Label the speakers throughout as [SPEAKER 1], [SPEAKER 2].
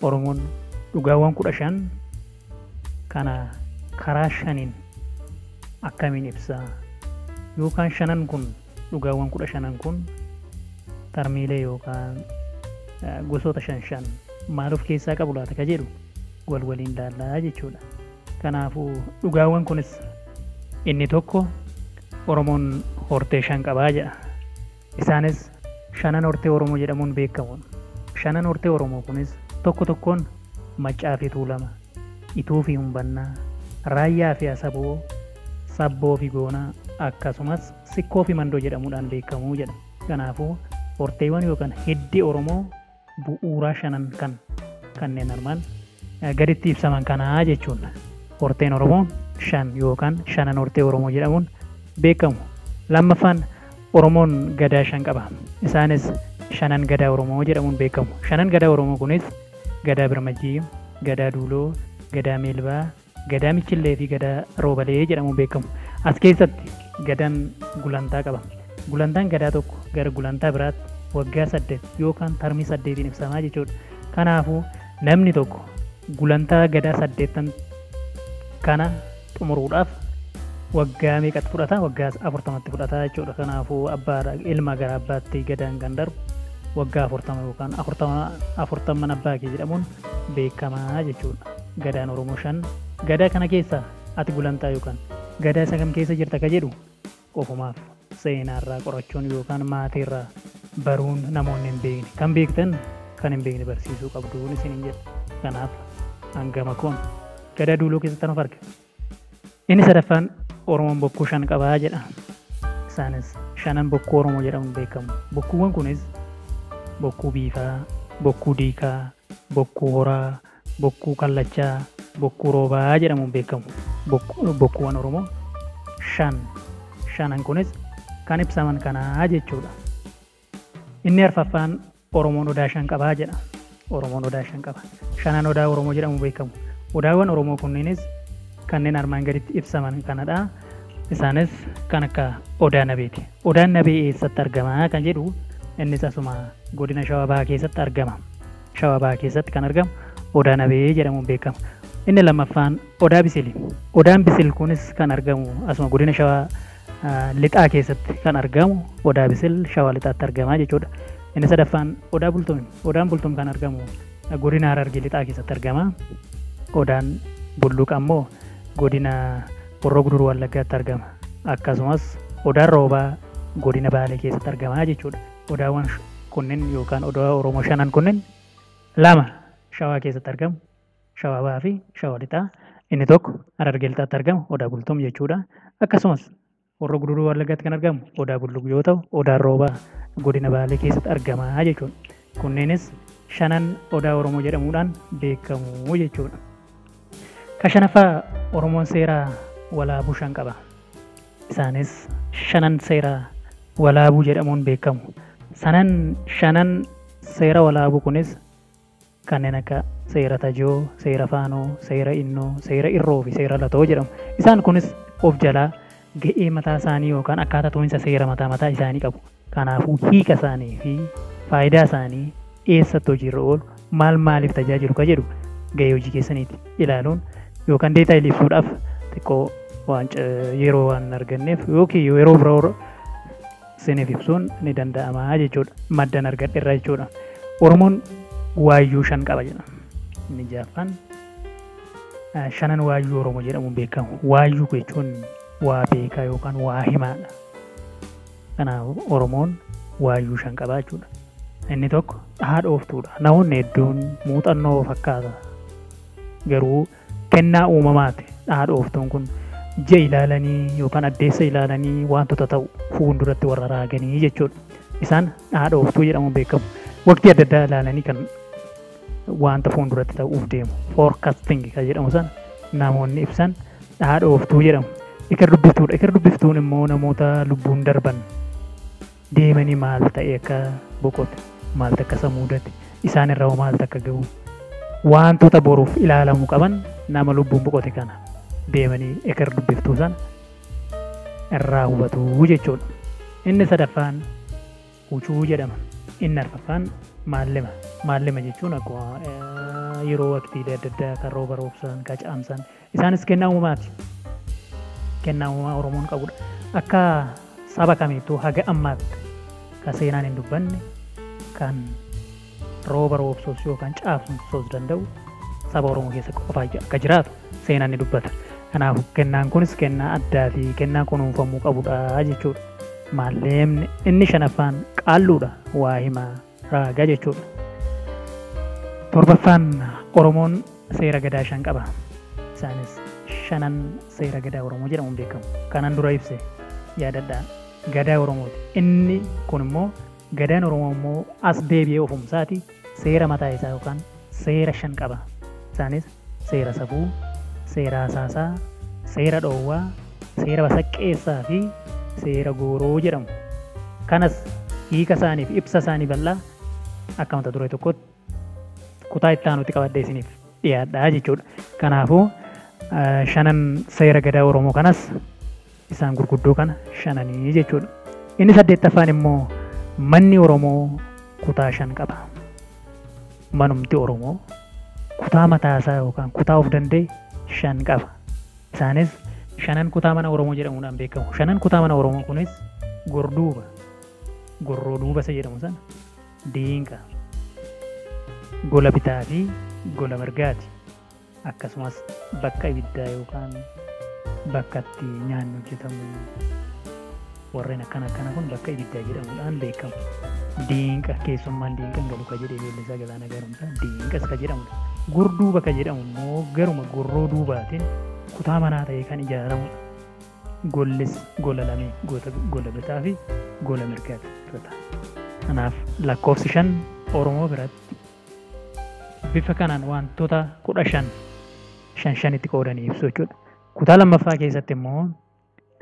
[SPEAKER 1] Oromoon dhugaawwan 15 kana karaa shaniin akkamiin ibsa? Yookaan shanan kun dhugaawwan 15 kun tarmiilee yookaan gosoota shan shan maal of keessaa qabu laata ka jedhu wal waliin ilaallaa jechuudha. Kanaafuu dhugaawwan kunis inni tokko Oromoon hortee shan qabaa jedha. Isaanis Shanan Hortee Oromoo jedhamuun beekamu. Shanan Hortee Oromoo kunis tokko tokkoon Maccaa fi Tuulama, Ituu fi Humbannaa, Raayyaa fi Asaboo, Sabboo fi Goonaa akkasumas Sikkoo fi Mandoo jedhamuudhaan beekamu jedha. Kanaafuu horteewwan yookaan hiddi Oromoo. bu'uuraa shanan kan kanneen armaan gaditti ibsaman kanaa jechuudha. Horteen Oromoo shan yookaan shanan hortee Oromoo jedhamuun beekamu. Lammaffaan Oromoon gadaa shan qaba. Isaanis shanan gadaa Oromoo jedhamuun beekamu. Shanan gadaa Oromoo kunis gadaa birmajii, gadaa duuloo, gadaa meelbaa, Gadaa Michillee fi Gadaa Roobalee jedhamuun beekamu. As keessatti Gadaan gulantaa qaba. Gulantaan Gadaa tokko gara gulantaa biraatti waggaa saddeet yookaan tarmii saddeetiin ibsama jechuudha. Kanaafuu namni tokko gulantaa Gadaa saddeettan kana xumuruudhaaf waggaa meeqatti fudhata? Waggaa afurtamatti fudhata jechuudha. Kanaafuu abbaa ilma gara abbaatti Gadaan kan darbu waggaa afurtama yookaan afurtamman abbaa kee jedhamuun beekamaa jechuudha. Gadaan Oromoo shan. Gadaa kana keessa ati gulantaa yookaan Gadaa isa kam keessa jirta ka jedhu ofumaaf seenaarraa qorachuun yookaan maatiirraa baruun namoonni hin beekne kan beektan kan hin beekne barsiisuu qabduun isiniin jedha. Kanaaf an gama koon Gadaa Duuloo keessattan of arga. Inni sadaffaan Oromoon bokkuu shan qaba jedha. Isaanis shanan bokkuu Oromoo jedhamuun beekamu. Bokkuuwwan kunis bokkuu biifaa, bokkuu diikaa, bokkuu horaa, bokkuu kallachaa, bokkuu roobaa jedhamuun beekamu. Bokku- Bokkuuwwan Oromoo shan shanan kunis kan ibsaman kanaa jechuudha. Inni arfaffaan Oromoon Odaa shan qaba jedha. Oromoon Odaa shan qaba. Shanan Odaa Oromoo jedhamu beekamu. Odaawwan Oromoo kunniinis kanneen armaan gaditti ibsaman kanadha. Isaanis kan akka Odaa Nabeeti. Odaan Nabee eessatti argama kan jedhu innis asuma godina Shawaa Bahaa keessatti argama. Shawaa Bahaa keessatti kan argamu Odaa Nabee jedhamuun beekama. Inni lammaffaan Odaa Bisili. Odaan Bisil kunis kan argamu asuma godina Shawaa Lixaa keessatti kan argamu Odaa Bisil Shawaa Lixaatti argama jechuudha. Inni sadaffaan Odaa Bultum. Odaan Bultum kan argamu godina Harargee Lixaa keessatti argama. Odaan Bulluq ammoo godina Horroo Guduruu Wallaggaatti argama. Akkasumas Odaan Roobaa godina Baalee keessatti argama jechuudha. Odaawwan kunniin yookaan odaa Oromoo shanan kunniin lama Shawaa keessatti argamu. Shawaa Bahaa fi Shawaa Lixaa. Inni tokko Harargee Lixaatti argama, Odaa Bultum jechuudha. Akkasumas Horroo Guduruu Wallaggaatti kan argamu Odaa Bulluq yoo ta'u, Odaan Roobaa godina Baalee keessatti argama jechuudha. Kunneenis shanan Odaa Oromoo jedhamuudhaan beekamu jechuudha. Ka shanaffaa Oromoon seeraa walaabuu shan qaba. Isaanis shanan seeraa walaabuu jedhamuun beekamu. Sanan shanan seera walaabuu kunis kanneen akka seera tajoo, seera faanoo, seera innoo, seera irroofi seera latoo jedhamu. Isaan kunis of jalaa ga'ee mataa isaanii yookaan akkaataa tuminsa seera mataa mataa isaanii qabu. Kanaafuu hiika isaaniifi faayidaa isaanii, eessatti hojiirra oolu, maal maaliif tajaajilu ka jedhu ga'ee hojii keessaniiti ilaaluun yookaan deetaayilii ibsuudhaaf xiqqoo waan yeroo waan hin arganneef yookiin yeroo biroo isiniif ibsuun ni danda'ama jechuudha. Maddan argadhe irraa jechuudha. Oromoon waayyuu shan qaba jedha. Inni jaaffaan shanan waayyuu Oromoo jedhamuun beekamu. Waayyuu jechuun waa beekaa yookaan waa himaadha. Kanaaf Oromoon waayyuu shan qaba jechuudha. Inni tokko haadhooftuudha. Namoonni hedduun muuxannoo fakkaata. Garuu Kennaa uumamaati dhaadhooftuun kun. Ji'a ilaalanii yookaan addeessa ilaalanii waantota ta'u fuulduratti warra raaganii jechuudha. Isaan dhaadhooftuu jedhamuun beekamu. Waqtii adda addaa ilaalanii kan waanta fuulduratti ta'uuf deemu forecasting kan jedhamu sana namoonni ibsan dhaadhooftuu jedhamu. Eker dubbiftuudha. Eker dubbiftuun immoo namoota lubbuun darban deemanii maal ta'e akka boqote, maal takka isa muudate, isaan irra hoo maal takka ga'u, waantota boruuf ilaalamu qaban nama lubbuun boqote kana deemanii eker dubbiftuu sana irraa hubatu jechuudha. Inni sadaffaan hucuu jedhama. Inni arfaffaan maallima. Maallima jechuun akkuma eh, yeroo waqtiilee adda addaa kan rooba roobsan, kan caamsan Isaanis kennaa uumamaati. Kennaa uumamaa Oromoon qabudha. Akka saba kamiittuu haga ammaatti ka seenaan hin dubbanne, kan rooba roobsuus yookaan caabsuus danda'u saba Oromoo keessa qofa akka jiraatu seenaan ni dubbata. Kanaaf kennaan kunis kennaa addaa fi kennaa kunuunfamuu qabudha jechuudha. Maalleemni inni shanaffaan qaalluudha waa himaa. raaga jechuudha. Torbaffaan Oromoon seera gadaa shan qaba. Isaanis shanan seera gadaa Oromoo jedhamuun beekamu. Kanan dura ibse yaadadhaa gadaa Oromooti. Inni kun immoo gadaan Oromoo immoo as deebi'ee ofumsaati seera mataa isaa yookaan seera shan qaba. Isaanis seera safuu, seera hasaasaa, seera dhoowwaa, seera basaqqeessaa fi seera gooroo jedhamu. Kanas hiika isaanii fi ibsa isaanii bal'aa akka mata duree tokkootti kutaa itti aanutti qabadhee isiniif dhiyaadha jechuudha. Kanaafuu shanan seera gadaa Oromoo kanas Isaan gurguddoo kana shananii jechuudha. Inni saddeettaffaan immoo manni Oromoo kutaa shan qaba. Manumti Oromoo kutaa mataasaa yookaan kutaa of danda'e shan qaba. Isaanis shanan kutaa mana Oromoo jedhamuudhaan beekamu. Shanan kutaa mana Oromoo kunis gorduuba, gorroo duuba isa jedhamu sana, diinqa, gola bitaa fi gola mirgaati. akkasumas bakka ibiddaa yookaan bakka itti nyaanni hojjetamu warreen akkana akkana kun bakka ibiddaa jedhamuudhaan beekamu. Diinqa keessummaan diinqan galu ka jedhee ijoollee isaa galaana garumsa diinqas ka jedhamudha. Gurduu bakka jedhamu immoo garuma gorroo duubaatiin kutaa manaa ta'ee kan ijaaramudha. Gollis gola lamee goota gola bitaa fi gola mirgaatti irra ta'a. Kanaaf lakkoofsi shan Oromoo biratti Bifa kanaan waantota 15 shan shanitti qoodanii ibsu jechuudha. Kutaa lammaffaa keessatti immoo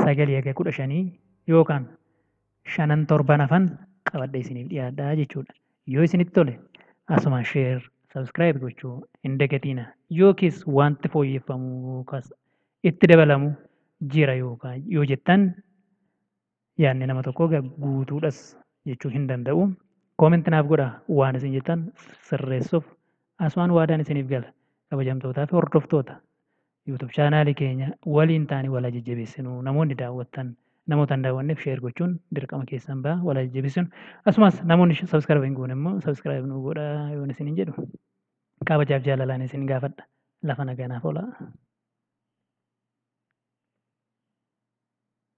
[SPEAKER 1] 9 haga 15 yookaan shanan torban hafan qabadhee isiniif dhiyaadha jechuudha. Yoo isinitti tole asumaan share, subscribe gochuu hin dagatiina. Yookiis wanti fooyyeffamu yookaas itti dabalamu jira yookaan yoo jettan Yaanni nama tokkoo egaa guutuudhas jechuu hin danda'u. Comment naaf godha waan isin jettan sirreessuuf asumaan waadaan isiniif gala. Kabajamtootaa fi hordoftoota YouTube chaanaalii keenya waliin taane wal jajjabeessinu. Namoonni daawwattan namoota hin daawwanneef share gochuun dirqama keessan ba'a wal jajjabeessinu. Asumas namoonni subscribe hin goone immoo subscribe nuu godha yoon isin hin jedhu. Kabajaaf jaalalaan isin gaafadha. Lafa nagaa naaf oolaa.